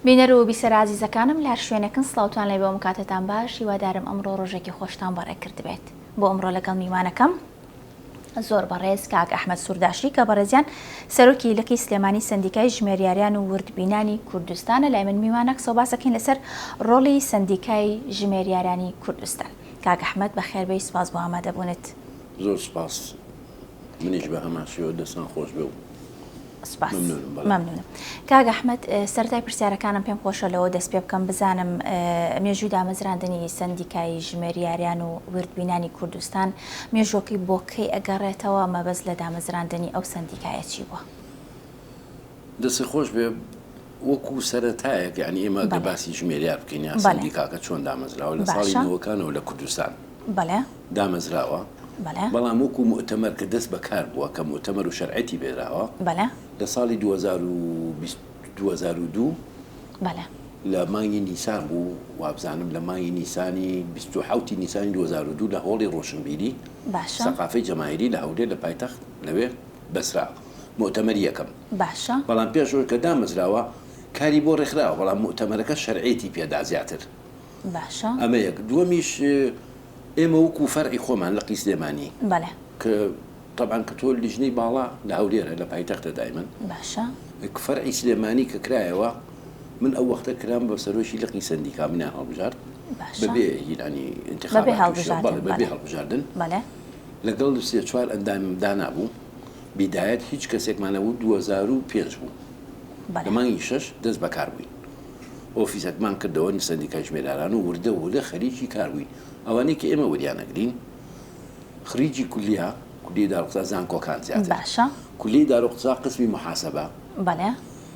بینەر و بیسەر ئازیزەکانم لە هەر شوێنێکن سڵاوتان لێبێ و کاتتان باش هیوادارم ئەمڕۆ ڕۆژێکی خۆشتان بەڕێ کردبێت بۆ ئەمڕۆ لەگەڵ میوانەکەم زۆر بەڕێز کاک ئەحمد سورداشی کە بەڕێزیان سەرۆکی لقی سلێمانی سندیکای ژمێریاریان و وردبینانی کوردستانە لای من میوانە قسە باسەکەین لەسەر ڕۆڵی سندیکای ژمێریارانی کوردستان کاک ئەحمد بەخێربەی سپاس بۆ ئامادەبوونت زۆر سپاس منیش بە هەمان شێوە دەستان خۆش بێ و سپاس ممنونم بەڵێ. مەمنونم کاک ئەحمەد اه، سەرەتای پرسیارەکانم پێم خۆشە لەوە دەست پێ بکەم بزانم اه، مێژووی دامەزراندنی سەندیکای ژمێریاریان و وردبینانی کوردستان مێژووەکەی بۆ کەی ئەگەڕێتەوە، مەبەست لە دامەزراندنی ئەو سەندیکایە چی بووە؟ دەستی خۆش بێ وەکو سەرەتایەک یعنی ئێمە دە باسی ژمێریا بکەین یا سندیکاکە چۆن دامەزراوە لە ساڵی نەوەکانەوە لە کوردستان دامەزراوە بەڵام وەکو مؤتەمەر کە دەست بەکار بووە کە مؤتەمەر و شەرعەتی بێراوە لە ساڵی 2022 لە مانگی نیسان بوو وابزانم لە مانگی نیسانی 2020 نیسانی 2022 لە هۆڵی ڕۆشنبیری سەقافەی جەماهیری لە هەولێر لە پایتەخت لەوێ بەسرا موئتەمەری یەکەم باشە. بەڵام پێش ئەوەی کە دامەزراوە کاری بۆ ڕێکخراوە بەڵام موئتەمەرەکە شەرعیەتی پێدا زیاتر باشە. ئەمە یەک دووەمیش ئێمە وەکو فەرعی خۆمان لە قیسلێمانی بەڵێ. کە تەبعەن کە تۆ لیژنەی باڵا لە هەولێرە لە پایتەختە دایمەن باشە. ک فەرعی سلێمانی کە کرایەوە من ئەو وەختە کرام بە سەرۆکی لقی سەندیکا منیان هەڵبژارد باشە. بەبێ هیلانی بەبێ ئینتخابات و شە هەڵبژاردن بەڵێ بەبێ بەڵێ. هەڵبژاردن. بەڵێ. لەگەڵ سێ چوار ئەندامیم دانابوو، بیدایەت هیچ کەسێکمان نەبوو، دوو هەزار و پێنج بوو لە مانگی شەش دەست بەکار بووین، ئۆفیسەکمان کردەوە سەندیکای ژمێراران و وردە وردە خەریکی کار بووین، ئەوانەی کە ئێمە وریان ئەگرین خریجی کولیە، کولیەی داروقسا زانکۆکان زیاتر، کولیەی داروقسا قسمی محاسبە.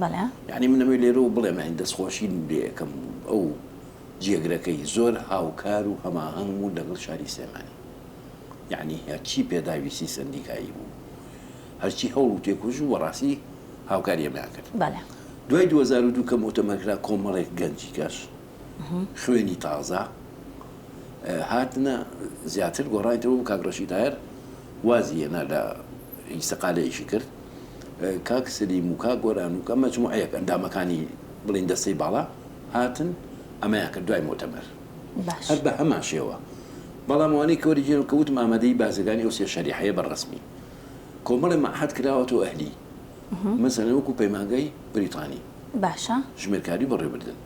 بەڵێ. یانی من ئەمەوێ لێرەوە بڵێم یانی دەستخۆشیم لێ ئەکەم ئەو جێگرەکەی زۆر هاوکار و هەماهەنگ بوو لەگەڵ شاری سلێمانی یانی هەرچی پێداویستی سەندیکایی بوو هەرچی هەوڵ و تێکۆش و بەڕاستی هاوکاری ئەمەیان کرد بەڵێ دوای دوو هەزار و دوو کە مۆتەمەر کرا کۆمەڵێک گەنجی کەش خوێنی تازە هاتنە زیاتر گۆڕانیتەوە بوو کاک ڕەشید تاهیر وازی هێنا لە ئیسەقالەیەکی کرد کاک سلیم و کاک گۆران و کە مەجموعەیەک ئەندامەکانی بڵێن دەستەی باڵا هاتن ئەمەیان کرد دوای مۆتەمەر باش هەر بە هەمان شێوە بەڵام ئەوانەی کە وەرگێرن کە وتم ئامادەی بازرگانی ئەو سێ شەریحەیە بە ڕەسمی کۆمەڵی مەعهەد کراوەتەوە ئەهلی مەسەلەن وەکو پەیمانگای بریتانی باشە ژمێرکاری بەڕێوەبردن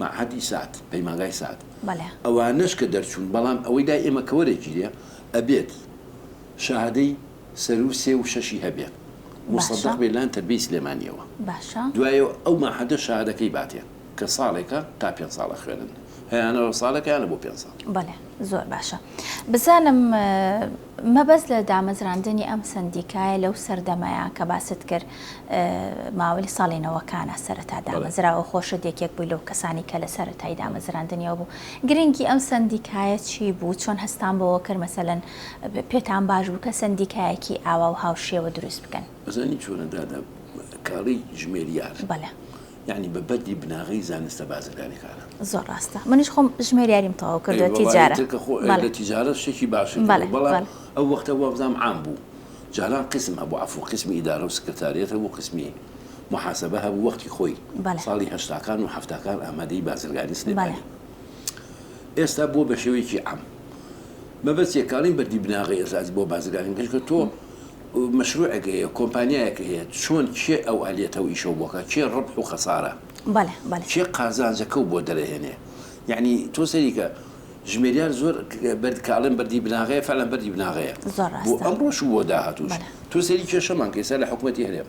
مەعهەدی سات پەیمانگای سات بەڵێ ئەوانەش کە دەرچوون بەڵام ئەوەی دای ئێمە کە وەرەگیرێ ئەبێت شەهادەی سەروو سێ و شەشی هەبێ موسەدەق بێ لان تەربیەی سلێمانیەوە دوایەوە ئەو مەعهەدە شەهادەکەی باتێ کە ساڵێکە تا پێنج ساڵ ئەخوێنن هەیانەوە ساڵێکە یانە بۆ پێنج ساڵ بەڵێ زۆر باشە بزانم مەبەست لە دامەزراندنی ئەم سندیکایە لەو سەردەمەیە کە باست کرد ماوەی ساڵی نەوەکانە سەرەتا دامەزراوە خۆشە دێکێک بووی لەو کەسانی کە لە سەرەتای دامەزراندنیەوە بوو گرنگی ئەم سندیکایە چی بوو چۆن هەستان بۆەوە کرد مەسەلەن پێتان باش بوو کە سەندیکایەکی ئاوا و هاوشێوە دروست بکەن؟ ئەزانی چۆنە دادە کاڵی ژمێریار بەلە. یانی بە بەردی بناغەی زانستە بازرگانیکانە. زۆر ڕاستە منیش خۆم ژمێریاریم تەواو کردوە تیجارە. ئەی وەڵا ئیتر کە خۆ تیجارە شتێکی باشە بەلە بەلە. بەڵام ئەو وەختە وابزانم عام بوو جاران قسم هەبوو عەفو قسمی ئیدارە و سکرتاریەت هەبوو قسمی محاسبە هەبوو وەختی خۆی ساڵی هەشتاکان و حەفتاکان ئامادەی بازرگانی سلێمانی. ئێستا بووە بە شێوەیەکی عام. مەبەست یەکانەی بەردی بناغەی ئێزاز بۆ بازرگانی کردن کە تۆ مەشروعێک هەیە، کۆمپانیایەک هەیە، چۆن کێ ئەو ئەلێت ئەو ئیشەو بۆ کە کێ ڕەبح و خەسارە، کێ قازانجەکەو بۆ دەرەهێنێ. یەعنی تۆ سەیری کە ژمێریار زۆر بەرد کە ئەڵێن بەردی بناغەیە فەعلەن بەردی بناغەیە. بۆ ئەمڕۆش و بۆ داهاتووش. تۆ سەیری کێشەمان کە ئێستا لە حکومەتی هەرێم.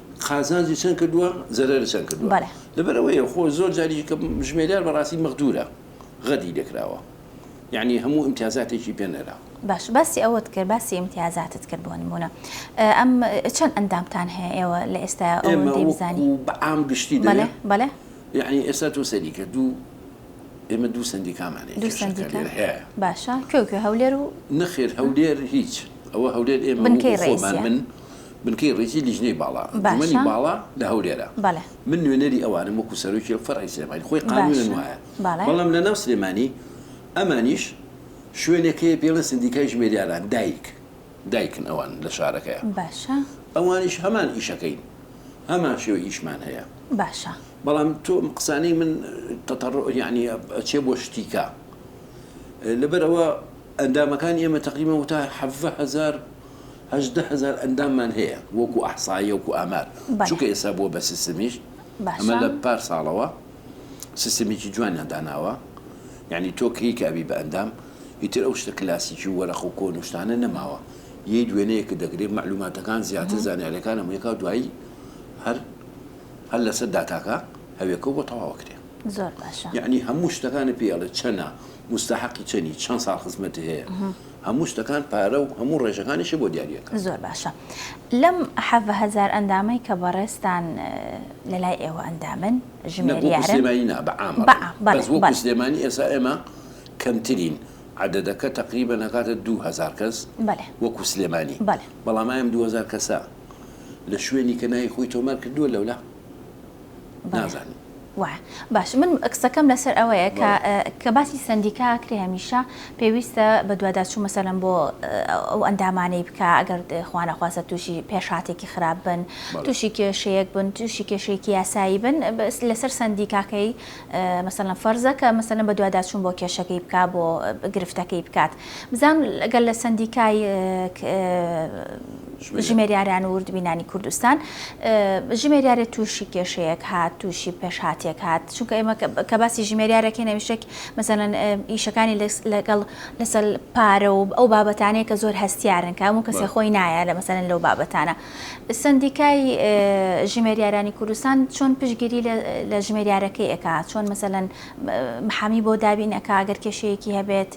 قازانجی چەند کردووە زەرەری چەند کردووە بەڵێ. لەبەر ئەوەیە خۆ زۆر جاریش کە ژمێریار بەڕاستی مەغدوورە غەدری لێ کراوە یەعنی هەموو ئیمتیازاتێکی پێ نەرا. باش باسی ئەوەت کرد باسی ئیمتیازاتت کرد بۆ نموونە ئەم چەند ئەندامتان هەیە ئێوە لە ئێستایا ئێمە ئەوەندەی بزانی وەکوو بە عام گشتی بەڵێ دەرێ بەڵێ یەعنی ئێستا تۆ سەیری کە دوو ئێمە دوو سەندیکامان هەیە دوو کێشەکە سەندیکا لێرە هەیە باشە کوێ و کوێ هەولێر و نەخێر هەولێر هیچ ئەوە هەولێر ئێمە بنکەی وەکوو خۆمان ڕەئیسیە من بنکەی ڕیزی لیژنەی باڵا ئەنجومەنی باڵا لە هەولێرە من نوێنەری ئەوانم وەکو سەرۆکی فەرعی سلێمانی خۆی قانونن وایە بەڵام لە ناو سلێمانی ئەمانیش شوێنێک هەیە پێی ئەڵێن سندیکای ژمێریاران دایک دایکن ئەوان لە شارەکەیە ئەوانیش هەمان ئیشەکەین هەمان شێوە ئیشمان هەیە بەڵام تۆ قسانەی من تەتەڕ یعنی ئەچێ بۆ شتیکە لەبەرەوە ئەندامەکان ئێمە تقریبا وتا حەڤە هزار هەژدە هەزار ئەنداممان هەیە وەکو ئەحساییە وەکو ئامار چونکە ئێستا بووە بە سیستمیش ئەمە لە پار ساڵەوە سیستمیکی جوانیان داناوە یعنی تۆ کەی کە ئەبی بە ئەندام ئیتر ئەو شتە کلاسیکی و وەرەخ و کۆن و شتانە نەماوە یەی دوێنەیەکە دەگرێت مەعلوماتەکان زیاتر زانیاریەکان هەموویەکە دوایی هەر هەر لەسەر داتاکە هەوێکە بۆ تەواوە کرێ زۆر باشە یعنی هەموو شتەکانی پێڵێ چەنە مستحقی چەنی چەند ساڵ خزمەتی هەیە هەموو شتەکان پارە و هەموو ڕێژەکانیشی بۆ دیاری ئەکا. زۆر باشە لەم حەڤە هەزار ئەندامەی کە بەڕێزتان لەلای ئێوە ئەندامن ژمێریارن؟ نە وەکو سلێمانی نا بە عام ئەڵێم بەس وەکو سلێمانی ئێسا ئێمە کەمترین عەدەدەکە تەقریبەن ئەکاتە دوو هەزار کەس وەکو سلێمانی بەڵام ئای ئەم دوو هەزار کەسە لە شوێنی کە ناوی خۆی تۆمار کردووە لەولا؟ نازانم. وایە باش من قسەکەم لەسەر ئەوەیە کە کە باسی سندیکا کرێ هەمیشە پێویستە بە دوواداچوو مەسەلم بۆ ئەو ئەندامانەی بکە ئەگەر خوانەخواسە تووشی پێشاتێکی خراپ بن تووشی کێشەیەک بن تووشی کێشەیەکی یاسایی بن لەسەر سندیکاکەی مەسەلەن فەرزە کە مەسەلەن بەدواداچوون بۆ کێشەکەی بکات بۆ گرفتەکەی بکات بزانم گەر لە سەندیکای ژمێریاران و وردبینانی کوردستان ژمێریارێ تووشی کێشەیەک هات تووشی پێشهاتێک هات چونکە ئێمە کە باسی ژمێریارەکەی نەویشێک مەسەلەن ئیشەکانی لەگەڵ لەسەر پارە و ئەو بابەتانەیە کە زۆر هەستیارن کە هەموو کەسێ خۆی نایە لە مەسەلەن لەو بابەتانە سەندیکای ژمێریارانی کوردستان چۆن پشگیری لە ژمێریارەکەی ئەکا چۆن مەسەلەن محامی بۆ دابین ئەکا ئەگەر کێشەیەکی هەبێت؟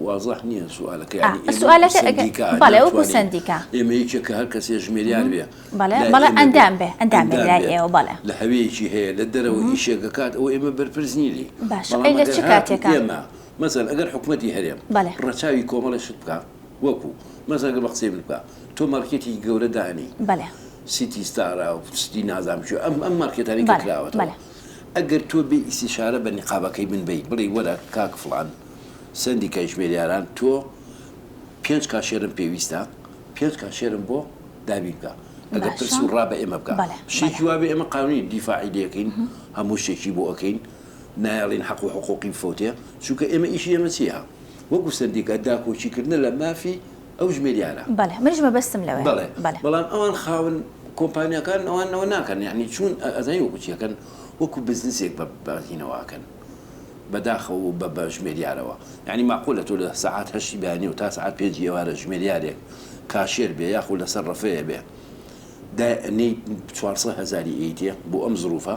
وازح نییە سوالەکە ئەوکو سندیکا ئێمە یەکێکە هەر کەسێ ژمێریان بێ بەڵێ ئەندام بێ ئەندام ئێوە بەڵێ لە هەوەیەکی هەیە لە دەرەوە ئیشێکەکات ئەو ئێمە بەرپرس نیلی باش لە چ کاتێکە ئێمە مەزەن ئەگەر حکوومەتتی هەرێم ڕەچاوی کۆمەڵی شت بکە وەکو مەسەلەن بە قسەی من بکە تۆ مارکێتێکی گەورە دانی بەلێ سیتی ستارە و ستی نازانم چی ئەم ئەم مارکێتانی کە کراوەتەوە بەلێ بەلێ ئەگەر تۆ بێ ئیستیشارە بە نیقابەکەی من بەیت بڵێی وەرە کاک فڵان سەندیکای ژمێریاران تۆ پێنج کاشێرم پێویستە پێنج کاشێرم بۆ دابین بکە ئەگەر پرس و باشە ڕا بە ئێمە بکە بەلێ بەلێ شتێکی وا بێ ئێمە قانوونی دیفاعی لێ ئەکەین هەموو شتێکی بۆ ئەکەین نایەڵین حەق و حقوقی بفەوتێ، چونکە ئێمە ئیشی ئێمە چیە وەکو سەندیکا داکۆکی کردنە لە مافی ئەو ژمێریارە. بەڵێ منیش مەبەستم لەوەیە. بەڵێ بەڵێ. بەڵام ئەوان خاوەن کۆمپانیاکان ئەوان ئەوە ناکەن یەعنی چون ئەزانی وەکو چی ئەکەن وەکو بزنسێک بە بەرهینەوە ئەکەن بە داخەوە و بە بە ژمێریارەوە یەعنی ماقولە تۆ لە سەعات هەشتی بەیانیەوە تا سەعات پێنجی ئێوارە ژمێریارێک کاشێر بێ یاخو لەسەر ڕەفەیە بێ دائەنێی چوار سەد هەزاری ئەیتێ بۆ ئەم زروفە؟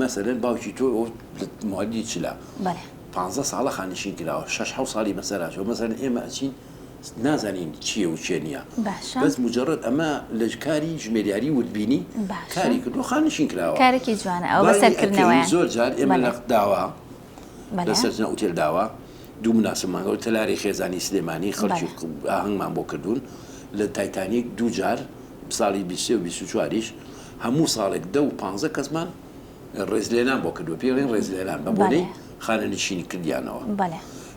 مەسەلەن باوکی تۆ مادی چلا پ ساڵە خانشین کراوە شش ح ساڵی مەسەراجەوە مەسەر ئێمە ئەچین نازانین چیە و چێ نیە بەس مجرڕت ئەمە لە کاری ژمێریاری وردبینی کاری کردو خانشین کراوە کارێکی جوانە ئەو بەسەرکردنەوە زۆر جار ئێمە لە داوا. لە سەرجەم ئوتێل داوا دوو مناسب مانگەوە تەلاری خێزانی سلێمانی خەڵکی ئاهەنگمان بۆ کردوون لە تایتانیک دوو جار ساڵی بیسێ و بیست و چواریش هەموو ساڵێک دە و پانزە کەسمان ڕێزلێنان بۆ کردو پێڵین ڕێزلێنان بە بۆنەی خانە نشینی کردیانەوە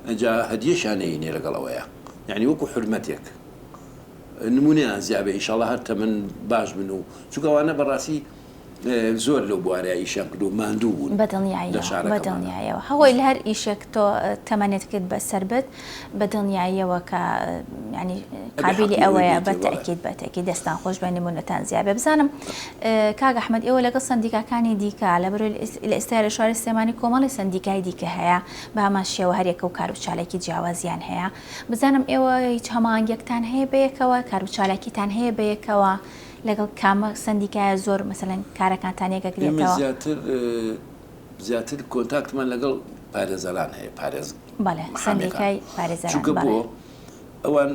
ئەجا هەدیەشانەیە نێ لەگەڵەوەیە یعنی وەکو حرمەتێک نمونەیان زیابێ ئیشاڵە هەر تەمەن باش بن و چووکەوانە بەڕاستی زۆر لەو بوارە ئیشیان کردووە ماندوو بوون لە شارەکەمانا. بەدڵنیاییەوە بەدڵنیاییەوە هەوەی لە هەر ئیشێک تۆ تەمەنێت کرد بەسەر بت بەدڵنیاییەوە کە یانی قابیلی ئەوەیە بەتەئکید بەتەئکید دەستان خۆش بێت نموونەتان زیاد بێت بزانم کاک ئەحمەد ئێوە لەگەڵ سەندیکاکانی دیکە لە بەرۆی لە ئێستای لە شاری سلێمانی کۆمەڵی سەندیکای دیکە هەیە بە هەمان شێوە هەر یەکە و کار و چالاکی جیاوازیان هەیە بزانم ئێوە هیچ هەماهەنگیەکتان هەیە بەیەکەوە کار و چالاکیتان هەیە بەیەکەوە لەگەڵ کامە سەندیکایە زۆر مەسەلەن کارەکانتان یەکەگرێتەوە؟ ئێمە زیاتر زیاتر کۆنتاکتمان لەگەڵ پارێزەران هەیە پارێز بەڵێ سەندیکای پارێزەران چونکە بۆ ئەوان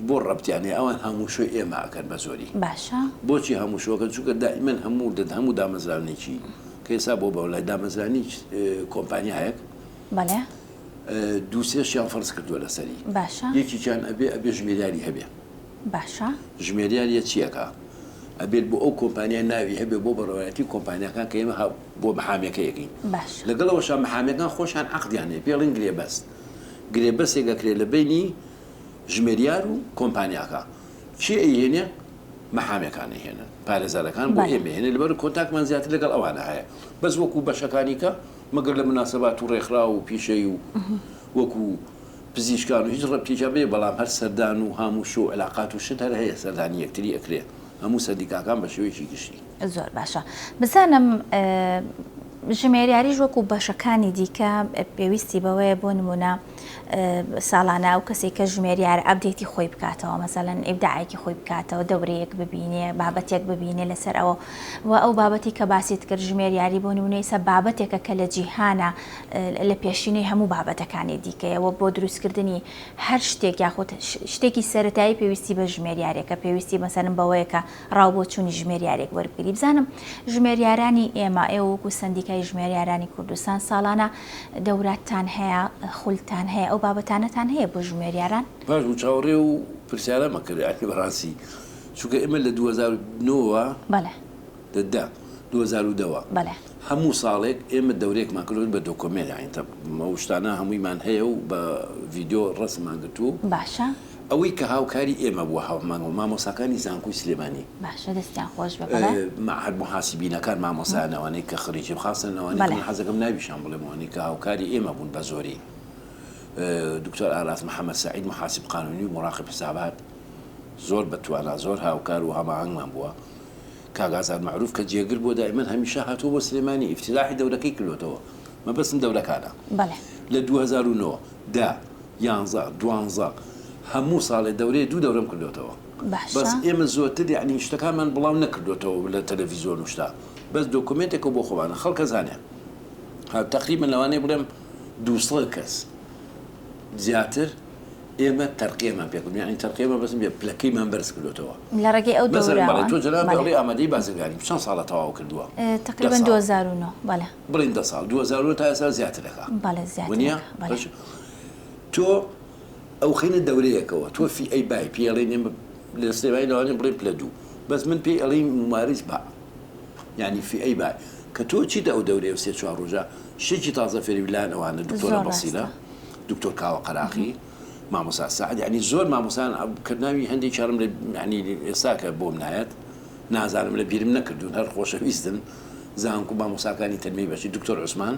بۆ ڕەبتیان هەیە ئەوان هەموو شوێ ئێمە ئەکەن بە زۆری باشە بۆچی هەموو شوەکەن چونکە دائیمەن هەموو دەت هەموو دامەزرانێکی کە ئێستا بۆ بەو لای دامەزرانی کۆمپانیایەک بەڵێ دووسێشیان فەرز کردووە لەسەری باشە یەکیان ئەبێ ئەبێ ژمێریاری هەبێ باشە. ژمێریار یە چیەکا ئەبێت بۆ ئەو کۆمپانیای ناوی هەبێت بۆ بەڕێوەتی کۆمپانیاکان کە ئێمە بۆ محامێکە یەکەین باشە لەگەڵەوەشە محامێکان خۆشان عەقدیان هەیە پێ ڵین گرێ بەست گرێ بەسێک ئەکرێت لە بینی ژمێریار و کۆمپانیاکە چی ئەیهێنێ محامێکان ئەیهێنن پارێزارەکان بۆ ئێمە هێنێ لەبەر کۆنتاکمان زیاتر لەگەڵ ئەوانە هەیە بەس وەکو بەشەکانیکە مەگەر لە مناسبات و ڕێکخراو و پیشەی و وەکو پزیشکان و هیچ ڕەبتیکیان بێ بەڵام هەر سەردان و هام و شۆ و علاقات و شت هەر هەیە سەردانی یەکتری ئەکرێ هەموو سەندیکاکان بە شێوەیەکی گشتی. زۆر باشە بزانم ژمێریاریش وەکو بەشەکانی دیکە پێویستی بەوەیە بۆ نمونە ساڵانە ئەو کەسی کە ژمێریار ئەبدێتی خۆی بکاتەوە مەسەلەن ئیبداعێکی خۆی بکاتەوە دەورەیەک ببینێ بابەتێک ببینێ لەسەر ئەوە و ئەو بابەتی کە باسی کرد ژمێریاری بۆ نمونەی سە بابەتێکە کە لە جیهانە لە پێشینەی هەموو بابەتەکانی دیکەیە و بۆ دروستکردنی هەر شتێک یاخود شتێکی سەرەتایی پێویستی بە ژمێریارێکە پێویستی مەسەرم بەوەیە کە ڕاو بۆ چوونی ژمێریارێک وەربگری بزانم ژمێریارانی ئێمە ئێ وەکو سندیکای ژمێریارانی کوردستان ساڵانە دەوراتان هەیە خولتان هەیە ئەو بابەتانەتان هەیە بۆ ژمێریاران باش بوو چاوەڕێ و پرسیارە مەکردیانی بەڕاستی چونکە ئێمە لە 2009ەوە بەڵێ دە دە دوو هەزار و دە وە بەلێ. هەموو ساڵێک ئێمە دەورێکمان کردوە بە دۆکۆمێن یاین تە مە وشتانە هەموویمان هەیە و بە ڤیدۆ ڕەسمان گرتوو باشە. ئەوەی کە هاوکاری ئێمە بووە هاومان و مامۆساکانی زانکۆی سلێمانی. باشە دەستیان خۆش بێ بەلێ. مەعهەد موحاسیبینەکان مامۆسایان نەوانەی کە خریجی خاصن نەوانەی کە من حەز دەکەم ناویشیان بڵێم ئەوانەی کە هاوکاری ئێمە بوون بە زۆری دکتۆر ئاراس محمد سعید موحاسیب قانونی و موراقیب حسابات زۆر بە توانا زۆر هاوکار و هەماهەنگمان بووە. کاک ئازاد مەعروف کە جێگر بووە دائیمەن هەمیشە هاتووە بۆ سلێمانی ئیفتیتاحی دەورەکەی کردۆتەوە مەبەستم دەورەکانە بەڵێ لە دوو هەزار و نۆ دە یانزە دوانزە هەموو ساڵێ دەورەیە دوو دەورەم کردۆتەوە بەس باشە ئێمە زۆرتر یعنی شتەکانمان بڵاو نەکردۆتەوە لە تەلەڤیزیۆن و شتە بەس دۆکۆمێنتێکە بۆ خۆمانە خەڵکە زانێ ها تەقریبەن لەوانەیە بڵێم دوو سەد کەس زیاتر ئێمە تەرقێمان پێکردووە، یانی تەرقێ مەبەستم بێ پلەکەیمان بەرز کردۆتەوە. لە ڕێگەی ئەو دۆراوە. مەسەلەن بەڵێ تۆ جەنابی ئەڵێی ئامادەی بازرگانیم، چەند ساڵە تەواو کردووە؟ تەقریبەن دوو هەزار و نۆ، بەڵێ. بڵێین دە ساڵ، دوو هەزار و نۆ تا ئێستا زیاتر ئەکا. بەڵێ زیاتر ئەکا. وەنیە؟ بەڵێ. تۆ ئەوخەینە دەورەیەکەوە، تۆ فی ئەی بای، پێی ئەڵێین ئێمە لە سلێمانی لەوانەیە بڵێین پلە دوو، بەس من پێی ئەڵێیم ممارس با، یانی فی ئەی بای. کە تۆ چیت ئەو دەورەیە و سێ چوار ڕۆژە شتێکی تازە فێری بی لایان ئەوانە دکتۆرە بەسیرە. دکتۆر کاوە قەراخی مامۆسا سعد یعنی زۆر مامۆسان کە ناوی هەندێک چارم لە ینی ئێستاکە بۆم نایەت نازانم لە بیرم نەکردوون هەر خۆشەویستن زانکو مامۆساکانی تەرمی بەچی دکتۆر عوسمان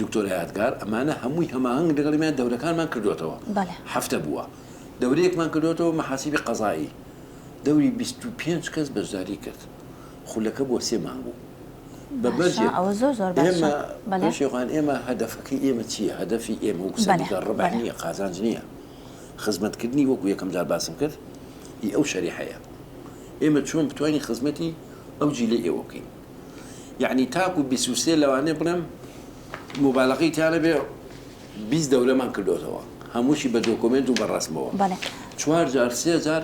دکتۆر یادگار ئەمانە هەمووی هەماهنگ دەگەڵیان دەورەکانمان کردوێتەوە هەفتە بووە دەورەیەکمان کردوێتەوە مەحاسیبی قەزایی دەوری 25 کەس بەشداری کرد خولەکە بۆ سێ مانگ و بە بەرجێ باشە ئەوە زۆر زۆر باشە ئێمە بەلێ. بەشێ خان ئێمە هەدەفەکەی ئێمە چییە هەدەفی ئێمە وەکو بەلێ سەندیکا ڕەبح بەلێ. نییە قازانج نییە خزمەت کردنی وەکو یەکەم جار باسم کرد ئی ئەو شەریحەیە ئێمە چۆن بتوانین خزمەتی ئەو جیلەی ئێوە بکەین یەعنی تاکو بیست و سێ لەوانەیە بڵێم موبالەغەی تیا نەبێ بیست دەورەمان کردۆتەوە هەمووشی بە دۆکۆمێنت و بە ڕەسمەوە بەلێ. چوار جار سێ جار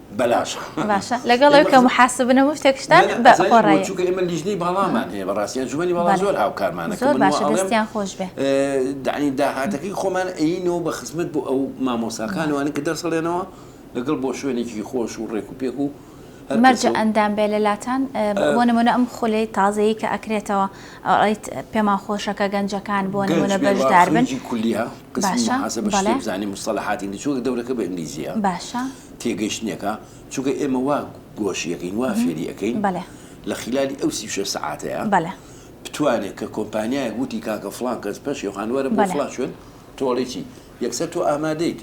بەلاش باشە لەگەڵ کە محاسبن و شتێک شتان بەڕای چونکە ئێمە لیژنەی باڵامان هەیە بەڕاستی ئەنجومەنی باڵا زۆر هاوکارمانە زۆر باشە دەستیان خۆش بێ دانی داهاتەکەی خۆمان ئەینەوە بە خزمەت بۆ ئەو مامۆساکانوانە کە دەرسەڵێنەوە لەگەڵ بۆ شوێنێکی خۆش و ڕێک و پێک و مەرجە ئەندام بێ لەلاتان بۆ نمونە ئەم خولەی تازەیی کە ئەکرێتەوە ئەڵیت پێمان خۆشەکە گەنجەکان بۆ نمونە بەشدار بن کولیە باشە بەڵێ زانی مستەلحاتی چۆک دەورەکە بە ئینگلیزیە باشە تێگەیشتنێکە چونکە ئێمە وا گۆشی ئەکەین وا فێری ئەکەین لە خیلالی ئەو سی و شەش سەعاتەیە بتوانێت کە کۆمپانیایەک وتی کاکە فڵان کەس پەشێوخان وەرە بۆ فڵان شوێن تۆ ئەڵێی چی یەکسەر تۆ ئامادەیت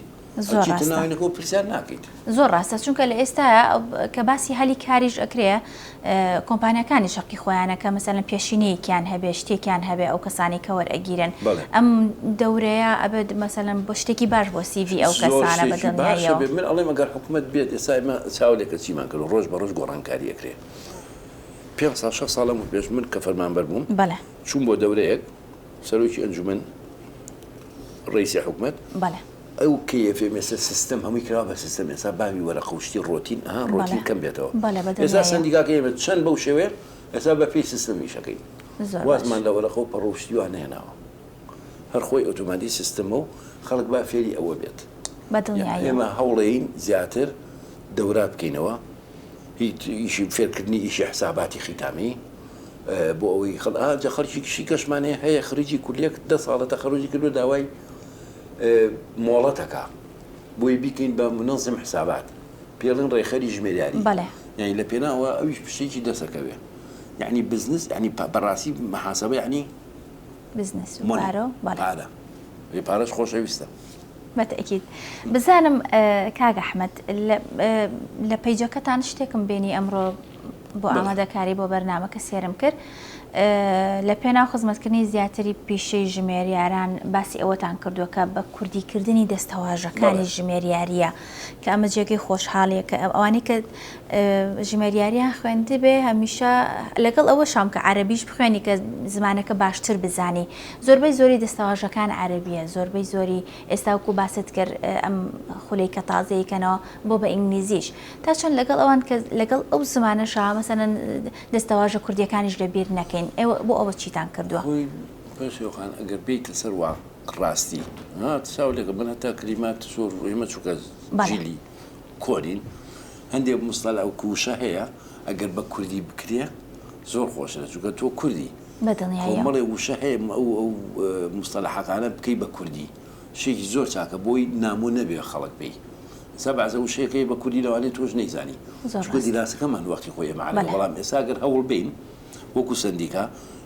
چیتر ناوێنەکە و پرسیار ناکەیت. زۆر ڕاستە چونکە لە ئێستایە کە باسی هەلی کاریش ئەکرێ کۆمپانیاکانی چەقی خۆیانە کە مەسەلەن پێشینەیەکیان هەبێ شتێکیان هەبێ ئەو کەسانەی کە وەرئەگیرێن بەڵێ. ئەم دەورەیە ئەبێت مەسەلەن بۆ شتێکی باش بۆ سی ڤی ئەو زۆر کەسانە بە شتێکی باش دڵنیاییەوە. هەبێ من ئەڵێم ئەگەر حکومەت بێت ئێستا ئێمە چاو لێکەچیمان کردووە ڕۆژ بە ڕۆژ گۆڕانکاری ئەکرێ پێنج ساڵ شەش ساڵ لەمەو پێش من کە فەرمانبەر بووم بەڵێ چووم بۆ دەورەیەک سەرۆکی ئەنجومەن ڕەیسی حکومەت بەڵێ. ئەو کەیەفێ مێسە سیستەم هەمووی کراوە بە سیستەم ئێستا باوی وەرەقە و شتی ڕۆتین ئەها ڕۆتین کەم بێتەوە بەڵێ بە ئێستا دڵنیاییم سەندیکاکەی ئێمە چەند بەو شێوەیە ئێستا بە پێی سیستەم ئیش ئەکەین زۆر باش وازمان لە وەرەقە و پەڕۆ و شتی وا نەهێناوە هەر خۆی ئۆتۆماتی سیستەمە و خەڵک با فێری ئەوە بێت بە یان دڵنیاییەوە ئێمە هەوڵێین زیاتر دەورا بکەینەوە هی ئیشی فێرکردنی ئیشی حساباتی خیتامی اه، بۆ ئەوەی خەڵ ئا جا خەڵکیکی شیکەشمان هەیە هەیە خریجی کولیەک دە ساڵە تەخەروجی کردوە داوای مۆڵەتەکە بۆی بیکەین بە منەزم حسابات پێڵن ڕێخەری ژمێریاری یعنی لە پێناوە ئەویش پشتێکی دەسەکەوێ یعنی بزنس ینی بەڕاستی محاسبە ینی بزنس پارە پارەش خۆشەویستە بەتەکیت بزانم کاگە حمد لە پیجەکەتان شتێکم بینی ئەمڕۆ بۆ ئامادەکاری بۆ بەرنامەکە سێرم کرد لە پێناو خزمەتکردنی زیاتری پیشەی ژمێریاران باسی ئەوەتان کردووە کە بە کوردیکردنی دەستەواژەکانی ژمێریاریە کە ئەمە جێگەی خۆشحاڵیە کە ئەوانی کە ژمێریاریان خوێندی بێ هەمیشە لەگەڵ ئەوە شام کە عربیش بخوێنی کە زمانەکە باشتر بزانی زۆربەی زۆری دەستەواژەکان عربیە زۆربەی زۆری ئێستاوکو باست کرد ئەم خولەی کە تازەیکەنەوە بۆ بە ئینگلیزیش تا چەند لەگەڵ ئەوان کە لەگەڵ ئەو زمانەشا مەسەن دەستەواژە کوردیەکانیش لە بیر نەکەین ئێوە بۆ ئەوە چیتان کردووە؟ پێشخان ئەگەر بیت لەسەر وا ڕاستی چاو لەگە من هەتا کلیمات سۆر ئێمە چووکە جیلی کۆرین هەندێک مستەل ئەو کووشە هەیە ئەگەر بە کوردی بکرێ زۆر خۆشە چووکە تۆ کوردی بەدڵنیایەڵێ وشە هەیە ئەو مستەل حەقانە بکەی بە کوردی. شتێکی زۆر چاکە بۆی نامۆ نەبێ خەڵک پێی سە بەعزە وشەیەکە هەیە بە کوردی لەوانەیە تۆش نەیزانی زۆر چونکە ڕاستە دیراسەکەمان وەختی خۆی ئێمە عەرەبە بەلێ بەڵام ئێستا گەر هەوڵ بێین وەکو سەندیکا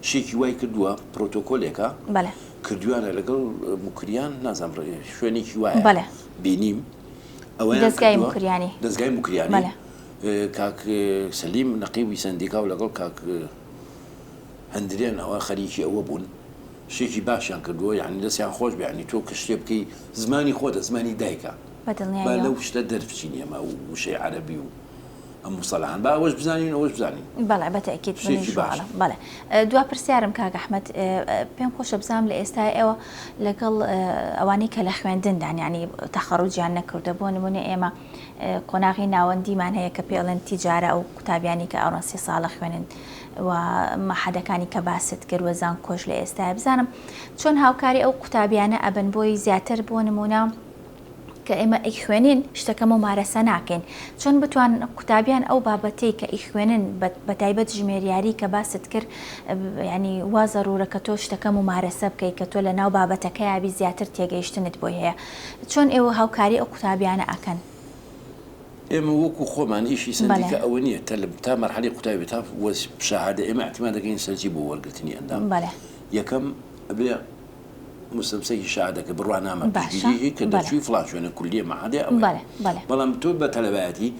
شتێکی وای کردووە پرۆتۆکۆلێکە بەلێ کردویانە لەگەڵ موکریان نازانم ڕێ شوێنێکی وایە بەلێ بینیم ئەوەیان دەزگای کردووە موکریانی دەزگای موکریانی بەلێ اه، کاک اه، سەلیم نەقیبی سەندیکا و لەگەڵ کاک اه، هەندرێن ئەوە خەریکی ئەوە بوون شتێکی باشیان کردووە یانی دەستیان خۆش بێ یانی تۆ کە شتێ بکەی زمانی خۆتە زمانی دایکە بە با دڵنیاییەوە. لەو شتە دەربچین ئێمە ئەو وشەی عەرەبی و ئەم موسەلەحان با ئەوەش بزانین ئەوەش بزانین بەڵێ بە تەئکید شتێکی منیش باشە. وەڵام بەڵێ دوا پرسیارم کاک ئەحمەد پێم خۆشە بزانم لە ئێستای ئێوە لەگەڵ ئەوانەی کە لە خوێندندان یانی تەخەڕوجیان نەکردووە بۆ نموونە ئێمە قۆناغی ناوەندیمان هەیە کە پێڵێن تیجارە ئەو قوتابیانی کە ئەوڕۆن سی ساڵە خوێنن و مەحەدەکانی کە باست کرد و زانکۆش لە ئێستایە بزانم چۆن هاوکاری ئەو قوتابیانە ئەبن بۆی زیاتر بۆ نمونە کە ئێمە ئیخوێنین شتەکە ممارەسە ناکەین چۆن بتوان قوتابیان ئەو بابەتەی کە ئیخوێنن بە تایبەت ژمێریاری کە باست کرد ینی وا زەرورە کە تۆ شتەکە ممارەسە بکەیت کە تۆ لە ناو بابەتەکەیابی زیاتر تێگەیشتنت بۆی هەیە چۆن ئێوە هاوکاری ئەو قوتابیانە ئەکەن ئێمە وەکو خۆمان ئیشی سەندیکا ئەوە نییە کە تا مەرحەلی قوتابی بێت تا شەهادە ئێمە احتیمال دەکەین سەرجی بۆ وەرگرتنی ئەندام یەکەم ئەبێ مستەمسەکی شەهادەکە بڕوانامە پشتگیریی کە دەرچووی فڵان شوێنە کولیە مەعادێ ئەوە بەڵام تۆ بە تەلەبایەتی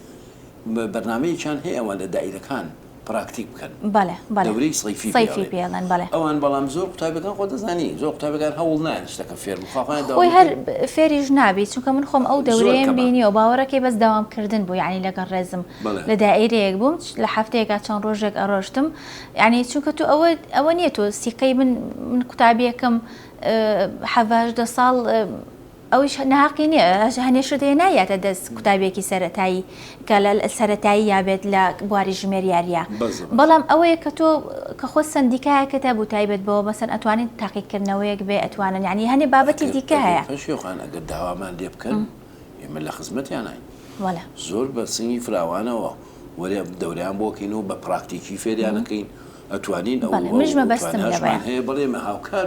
بەرنامەیەکیان هەیە ئەوان لە دایرەکان پراکتیک بکەن بەڵێ بەڵێ دەورەی صیفی صیفی پێ ئەڵێن بەڵێ پێڵێن ئەوان بەڵام زۆر قوتابیەکان خۆ دەزانی زۆر قوتابیەکان هەوڵ نایەن شتەکە فێر بن خوا خۆیان خۆی داوام هەر کرد فێریش نابی چونکە من خۆم ئەو زۆر دەورەیەم کەمە بینیەوە باوەڕەکەی بەس داوام کردن بوو یعنی لەگەڵ ڕێزم بەڵێ لە دائیرەیەک بووم چ- لە هەفتەیەکا چەند ڕۆژێک ئەڕۆشتم یعنی چونکە تۆ ئەوە ئەوە نییە تۆ سیقەی من من قوتابیەکەم اه، حەڤاژدە ساڵ اه، ئەویش ناهەقی نیە هەنێشت هەیە نایاتە دەست قوتابیەکی سەرەتایی کە لە سەرەتایی یابێت لە بواری ژمێر یاریە بەڵام ئەوەیە کە تۆ کە خۆ سندیکایەکە تا بوو تایبەت بەوە مەسەن ئەتوانین تاقیکردنەوەیەک بێ ئەتوانن یعنی هەنێ بابەتی دیکە هەیە شێخان ئەگەر داوامان لێ بکەن ئێمە لە خزمەتیانین وەلا زۆر بە سنگی فراوانەوە وەرێ دەوریان بۆکەین و بە پراکتیکی فێریانەکەین ئەتوانین ئەوە مژمە بەستم هەیە بەڵێمە هاوکار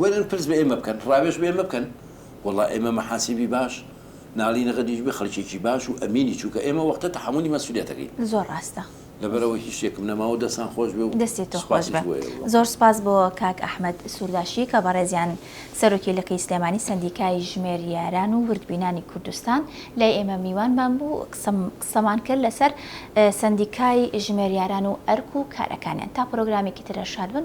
وەرن پرس بە ئێمە بکەن ڕاوێژ بە ئێمە بکەن وەڵا ئێمە مەحاسیبی باش ناڵینە غەدیش بێ خەڵکێکی باش و ئەمینی چونکە ئێمە وەختە تەحەمولی مەسولیەتەکەی زۆر ڕاستە. لەبەرئەوەی هیچ شتێکم نەماوە دەستان خۆش بێ و دەستی تۆ خۆش سوپاسیش بێ بۆ ئێوە. زۆر سوپاس بۆ کاک ئەحمەد سورداشی کە بەڕێزیان سەرۆکی لقی سلێمانی سەندیکای ژمێریاران و وردبینانی کوردستان لای ئێمە میوانمان بوو قسەم قسەمان کرد لەسەر سەندیکای ژمێریاران و ئەرک و کارەکانیان تا پرۆگرامێکی ترە شاد بن.